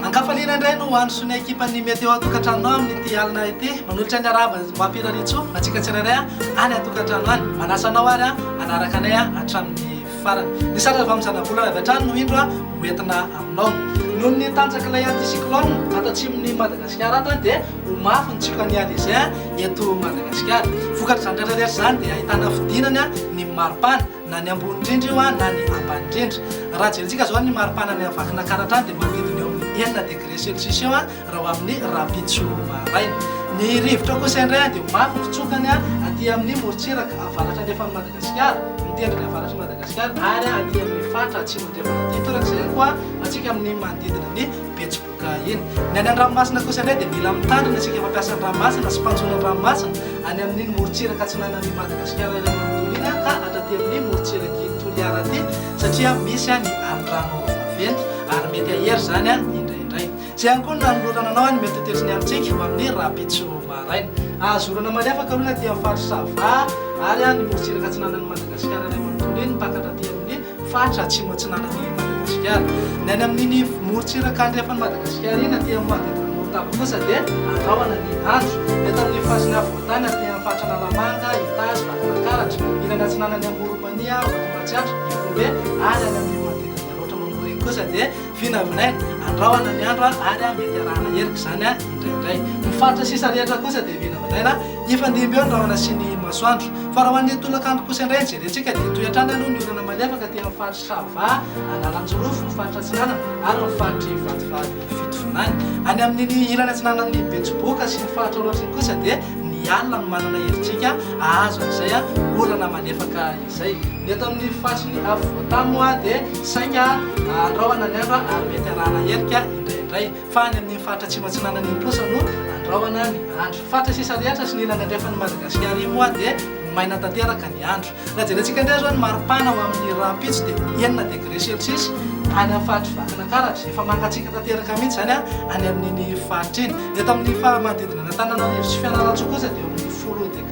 Ankafaliana indray no ho an'ny sonia ekipan'ny Meteo an-tokantranonao amin'ity alina ity. Manolotra ny harahaba mampirariantsoa antsika tsirairay any an-tokantrano any. Manasa anao ary hanaraka anay hatramin'ny farany. Ny sary avy amin'ny zanabolana avy hatrany no indro hoentina aminao. Noho ny tanjak'ilay anticyclone ato atsimon'i Madagasikara ato dia Ho mafy ny tsioka ny Alezin eto Madagasikara. Vokatr'izany rehetra rehetra izany dia ahitana fidinana ny maripana na ny ambony indrindra io na ny ambany indrindra. Raha jerentsika izao ny maripana any Vakinankaratra any dia manodidina eo amin'ny enina degré celsius eo raha ho amin'ny rahampitso maraina. Ny rivotra ao kosa indray dia mafy ny fitsokany aty amin'ny morontsiraka avaratra andrefan'i Madagasikara, ny tendrony avaratr'i Madagasikara ary aty amin'ny faritra atsimo andrefana aty torak'izay ihany koa antsika amin'ny manodidina ny Betsiboka. Ka eny, ny any an-dranomasina kosa indray dia mila mitandrina isika mampiasa ny ranomasina sy mpanjono ny ranomasina any amin'iny morontsiraka atsinanan'i Madagasikara iray manontolo iny ka hatraty amin'ny morontsirak'i Toliara aty satria misy ny alindrano vaventy ary mety hahery izany indraindray. Izay ihany koa no nanolorana anao ny mihotetesy ny alintsika ho amin'ny rahampitso maraina. Azo orana malefaka aloha ny aty amin'ny faritra Sava ary ny morontsiraka atsinanan'i Madagasikara iray manontolo iny mpakatra aty amin'ny faritra atsimo atsinanan'i Madagasikara. Ny any amin'iny morontsiraka andrefan'i Madagasikara iny aty amin'ny manodidina ny Morotava kosa dia andrahona ny andro. Eto amin'ny fasin'ny afovoantany aty amin'ny faritra Analamanga, Itazy, Vakinankaratra, ilany atsinanan'i Amorom-pania, Vatomasiatra, Ihorombe ary any amin'ny manodidina ny Alaotra Mamoriko kosa dia Vina aminay, andrahona ny andro ary a mety arahana erika izany a indraindray. Ny faritra sisa rehetra kosa dia vina aminay na hifandimby eo ny rahona sy ny masoandro. Fa raha ho an'ny tolakandro kosa indray ny jerentsika dia hitohy hatrany aloha ny orana malefaka aty amin'ny faritry Sava, Analanjirofo, ny faritra atsinanana ary ny faritry Vatovavy Fitovinany. Any amin'iny ilany atsinanan'ny Betsiboka sy ny faritra Aoratra iny kosa dia ny alina no manana herijika hahazo an'izay orana malefaka izay. Zay. Ny eto amin'ny faritrin'i Afovoantany moa dia saika andrahona ny andro ary mety arahana helika indraindray. Fa any amin'ny faritra atsimo atsinanan'i Imposa no andrahona ny andro. Faritra sisa rehetra sy ny ilany andrefan'i Madagasikara iny moa dia ho maina tanteraka ny andro. Raha jerentsika indray izao ny maripana ho amin'ny rahampitso dia ho enina degré celsius any amin'ny faritry Vakinankaratra. Efa mangatsiaka tanteraka mihitsy izany any amin'iny faritra iny. Eto amin'ny manodidina an'Antananarivo sy Fianarantsoa kosa dia eo amin'ny folo degré.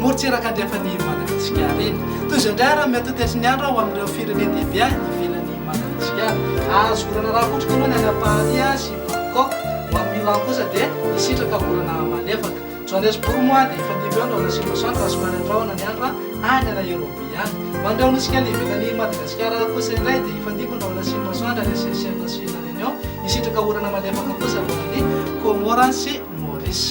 Morontsiraka andrefan'i Madagasikara iny. Tohizo indray ary amin'ny antontan'isy ny andro aho amin'ireo firenen-dehibe any ivelan'i Madagasikara. Azoko raharaha kotroko aloha ny any Paris sy Bangkok. Ho an'i Milan kosa dia hisitraka volana malefaka. Johannesburg moa dia efa dibo eo ny rahona sy Los Angeles raha somary andrahona ny andro any Nairobi any. Ho an'ireo nosy kely ivelan'i Madagasikara kosa indray dia efa dibo ny rahona sy Los Angeles, Seychelles sy La Réunion. Hisitraka orana malefaka kosa ho an'i Comores sy Maurice.